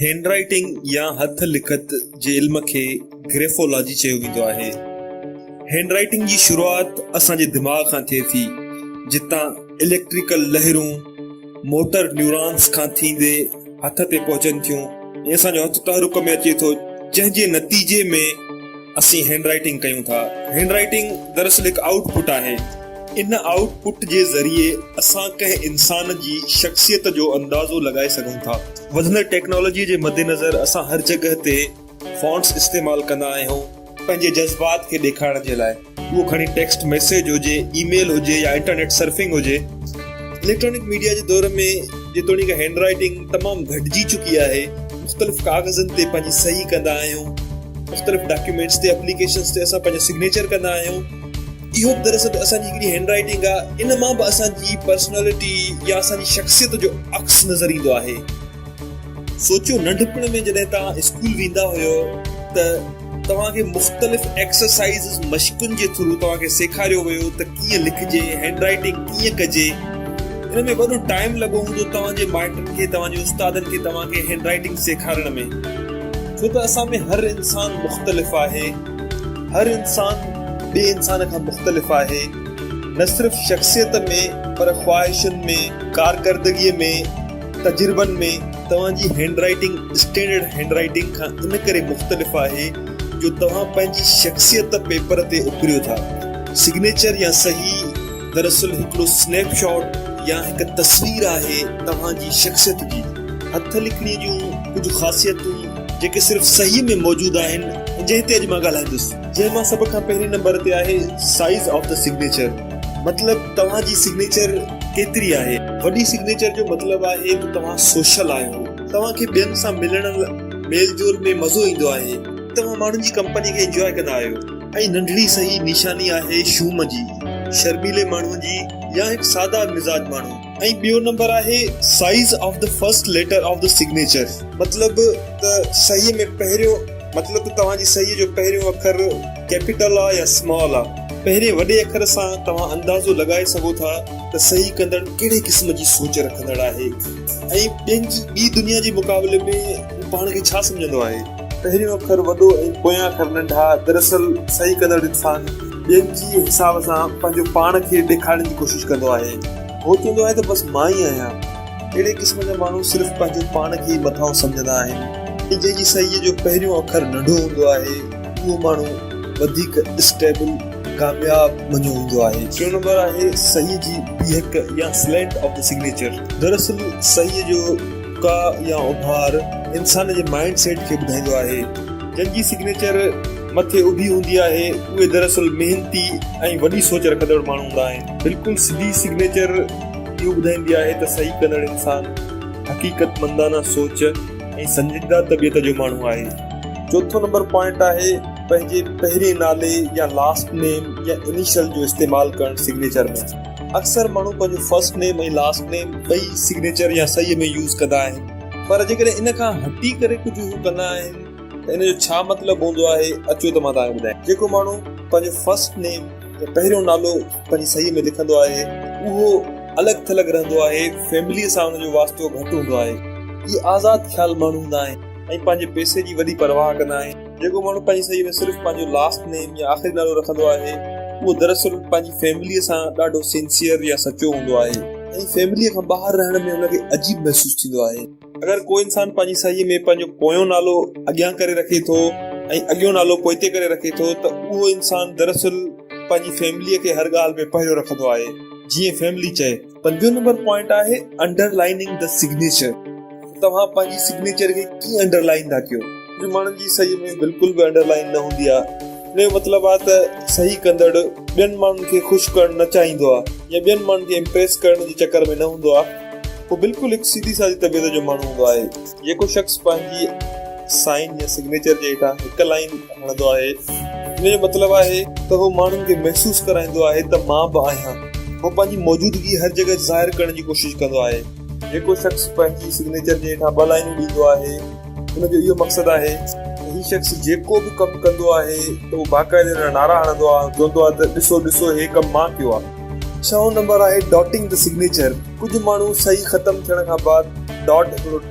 Hand writing يا هٿ لکت جي علم کي گريفولاجي چيو ويندو آهي. هينڊ رائيٽنگ جي شروعات اسان جي دماغ کان ٿئي ٿي، جتان اليڪٽريڪل لهرون موٽر نيورانس کان ٿيندي هٿ تي پهچن ٿيون ۽ اسان جو هٿ تحرڪ ۾ اچي ٿو، جنهن جي نتيجي ۾ اسين هينڊ رائيٽنگ ڪيون ٿا. هينڊ رائيٽنگ دراصل هڪ آئوٽ پٽ آهي. ان آئوٽ پٽ جي ذريعي اسان ڪنهن انسان جي شخصيت جو اندازو لڳائي سگهون ٿا. وڌندڙ ٽيڪنالاجي جي مدنظر اسان هر جڳهه تي فونٽس استعمال ڪندا آهيون پنهنجي جذبات کي ڏيکارڻ جي لاء اهو کڻي ٽيڪسٽ ميسيج هجي اي ميل هجي يا انٽرنيٽ سرفنگ هجي اليڪٽرانڪ ميڊيا جي دور ۾ جيتوڻيڪ هينڊ رائيٽنگ تمام گهٽجي چڪي آهي مختلف ڪاغذن تي پنهنجي صحيح ڪندا آهيون مختلف ڊاڪيومينٽس تي اپليڪيشنس تي اسان پنهنجو سگنيچر ڪندا آهيون اهو به دراصل اسان جي هڪڙي هينڊ رائيٽنگ آهي، ان مان به اسان جي پرسنالٽي يا اسان جي شخصيت جو عڪس نظر ايندو آهي. سوچيو ننڍپڻ ۾ جڏهن توهان اسڪول ويندا هيو ته توهان کي مختلف ايڪسرسائيزز، مشقن جي ٿرو توهان کي سيکاريو ويو ته ڪيئن لکجي، هينڊ رائيٽنگ ڪيئن ڪجي. ان ۾ وڏو ٽائيم لڳو هوندو توهان جي مائٽن کي، توهان جي استادن کي توهان کي هينڊ رائيٽنگ سيکارڻ ۾. ڇو ته اسان ۾ هر انسان مختلف آهي. هر انسان ٻئي انسان کان مختلف آهي، نه صرف شخصيت ۾ پر خواهشن ۾، ڪارڪردگيء ۾، تجربن ۾. توهان جي handwriting standard handwriting کان ان ڪري مختلف آهي جو توهان پنهنجي شخصيت پيپر تي اڪريو ٿا. سگنيچر يا صحيح دراصل هڪڙو سنيپ شاٽ يا هڪ تصوير آهي توهان جي شخصيت جي. هٿ لکڻي جون ڪجهه خاصيتون. جيڪي صرف صحيح ۾ موجود آهن ۽ جنهن تي اڄ مان ڳالهائيندس. جنهن مان سڀ کان پهرين نمبر تي آهي سائيز آف دي سگنيچر مطلب توهان جي سگنيچر ڪيتري آهي. وڏي سگنيچر جو مطلب آهي ته توهان سوشل آهيو توهان کي ٻين سان ملڻ ميل جول ۾ مزو ايندو آهي توهان ماڻهن جي ڪمپني کي انجواء ڪندا آهيو. ۽ ننڍڙي صحيح نشاني آهي شوم جي شرميلي ماڻهو جي يا هڪ سادا مزاج ماڻهو. ۽ ٻيو نمبر آهي size of the first letter of the signature مطلب ته صحيح ۾ پهريون مطلب ته توهان جي صحيح جو پهريون اکر ڪيپيٽل آ يا سمال آ پهرين وڏي اکر سان توهان اندازو لڳائي سگهو ٿا ته صحيح ڪندڙ ڪهڙي قسم جي سوچ رکندڙ آهي ۽ ٻين جي ٻي دنيا جي مقابلي ۾ پاڻ کي ڇا سمجهندو آهي پهريون اکر وڏو ۽ پويان اکر ننڍا دراصل صحيح ڪندڙ انسان ٻين جي حساب سان پنهنجو پاڻ کي ڏيکارڻ جي ڪوشش ڪندو آهي. هو چوندو آهي ته بس مان ئي آهيان. اهڙي قسم جا ماڻهو صرف پنهنجو پاڻ کي ئي مٿانهون سمجهندا آهن. ۽ جنهن جي صحيح جو پهريون اکر ننڍو هوندو آهي، اهو ماڻهو وڌيڪ اسٽيبل، ڪامياب، مڃيو ويندو آهي. ٽيون نمبر آهي صحيح جي بيهڪ يا سلينٽ آف دي سگنيچر. دراصل صحيح جو ڪا يا اڀار انسان جي مائنڊ سيٽ کي ٻڌائيندو آهي. جنهن جي سگنيچر. مٿي اڀي هوندي آهي اهي دراصل محنتي ۽ وڏي سوچ رکندڙ ماڻهو هوندا آهن. بلڪل سڌي سگنيچر اهو ٻڌائيندي آهي ته صحيح ڪندڙ انسان حقيقت مندانه سوچ ۽ سنجيده طبيعت جو ماڻهو آهي. چوٿون نمبر پوائنٽ آهي پنهنجي پهرين نالي يا لاسٽ نيم يا انيشل جو استعمال ڪرڻ سگنيچر ۾. اڪثر ماڻهو پنهنجو فرسٽ نيم ۽ لاسٽ نيم ٻئي سگنيچر يا صحيح ۾ يوز ڪندا آهن. پر جيڪڏهن ان کان هٽي ڪري ڪجهه هو ڪندا آهن. ته ان جو ڇا مطلب هوندو آهي اچو ته مان توهان کي ٻڌايان جيڪو ماڻهو پنهنجو فرسٽ نيم يا پهريون نالو پنهنجي صحيح ۾ لکندو آهي اهو الڳ ٿلڳ رهندو آهي فيمليء سان ان جو واسطو گهٽ هوندو آهي اهي آزاد خيال ماڻهو هوندا آهن ۽ پنهنجي پئسي جي وڏي پرواهه ڪندا آهن جيڪو ماڻهو پنهنجي صحيح ۾ صرف پنهنجو لاسٽ نيم يا آخري نالو رکندو آهي اهو دراصل پنهنجي فيمليء سان ڏاڍو سنسيئر يا سچو هوندو آهي ۽ فيمليء کان ٻاهر رهڻ ۾ ان کي عجيب محسوس ٿيندو آهي اگر ڪو انسان پنهنجي صحيح ۾ پنهنجو پويون نالو اڳيان ڪري رکي ٿو ۽ اڳيون نالو پوئتي ڪري رکي ٿو ته اهو انسان دراصل پنهنجي فيمليء کي هر ڳالهه ۾ پهريون رکندو آهي جيئن فيملي چئي. پنجون نمبر پوائنٽ آهي انڊر لائننگ دي سگنيچر ته توهان پنهنجي سگنيچر کي ڪيئن انڊر لائن ٿا ڪيو. ڪجهه ماڻهن جي صحيح ۾ بلڪل به انڊر لائن نه هوندي آهي ان جو مطلب آهي ته صحيح ڪندڙ ٻين ماڻهن کي خوش ڪرڻ نه چاهيندو آهي يا ٻين ماڻهن کي امپريس ڪرڻ جي چڪر ۾ نه هوندو آهي. هو بلڪل هڪ سيڌي سادي طبيعت جو ماڻهو هوندو آهي، جيڪو شخص پنهنجي سائن يا سگنيچر جي هيٺان هڪ لائين هڻندو آهي، ان جو مطلب آهي ته هو ماڻهن کي محسوس ڪرائيندو آهي ته مان به آهيان. هو پنهنجي موجودگي هر جڳهه ظاهر ڪرڻ جي ڪوشش ڪندو آهي. جيڪو شخص پنهنجي سگنيچر جي هيٺان ٻه لائينون ڏيندو آهي، ان جو اهو مقصد آهي ته هي شخص جيڪو به ڪم ڪندو آهي ته هو باقاعدي ان جا نعرا هڻندو آهي ۽ چوندو آهي ته ڏسو ڏسو هي ڪم مان ڪيو آهي. ڇهون نمبر آهي ڊاٽنگ دي سگنيچر ڪجهه ماڻهو صحيح ختم ٿيڻ کان بعد ڊاٽ هڪڙو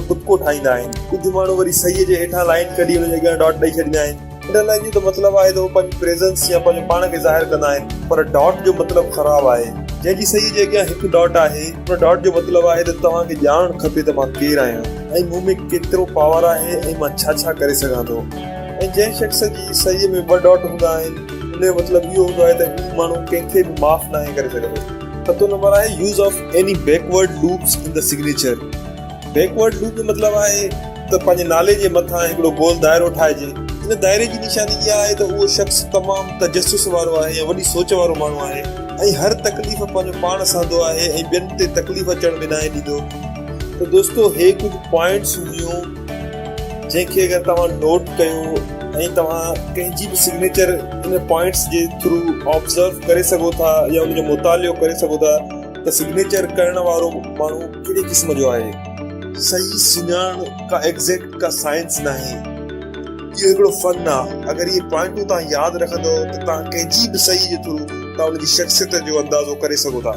ٽپڪو ٺاهيندا آهن ڪجهه ماڻهو وري صحيح جي هيٺان لائين ڪڍي ان جي اڳيان ڊاٽ ڏئي ڇڏيندا آهن انڊر لائين جو ته مطلب آهي ته هو پنهنجي پريزنس يا پنهنجو پاڻ کي ظاهر ڪندا آهن پر ڊاٽ جو مطلب خراب آهي جنهن جي صحيح جي اڳيان هڪ ڊاٽ آهي ان ڊاٽ جو مطلب آهي ته توهان کي ڄاڻڻ کپي ته مان ڪير آهيان ۽ مون ۾ ڪيترو پاور آهي ۽ مان ڇا ڇا ڪري سگهان ٿو ۽ جنهن شخص جي صحيح ۾ ٻه ڊاٽ هوندا آهن ان جو مطلب اهو هوندو آهي ته هي ماڻهو ڪنهن کي به معاف ناهي ڪري سگهندو. ستون نمبر آهي Use of any backward loops in the signature. Backward loop جو مطلب آهي ته پنهنجي نالي جي مٿان هڪڙو گول دائرو ٺاهجي. ان دائري جي نشاني اها آهي ته اهو شخص تمام تجسس وارو آهي يا وڏي سوچ وارو ماڻهو آهي ۽ هر تڪليف پنهنجو پاڻ سهندو آهي ۽ ٻين تي تڪليف اچڻ به ناهي ڏيندو. ته دوستو هي ڪجهه پوائنٽس هيون. جنهن کي اگر توهان نوٽ ڪيو ۽ توهان ڪنهن جي به سگنيچر ان پوائنٽس جي ٿرو آبزرو ڪري سگهو ٿا يا ان جو مطالعو ڪري سگهو ٿا ته سگنيچر ڪرڻ وارو ماڻهو ڪهڙي قسم جو آهي صحيح سڃاڻڻ ڪا ايگزيڪٽ ڪا سائنس ناهي اهو هڪڙو فن آهي اگر اهي پوائنٽون توهان ياد رکندو ته توهان ڪنهن جي به صحيح جي ٿرو توهان ان جي شخصيت جو اندازو ڪري سگهو ٿا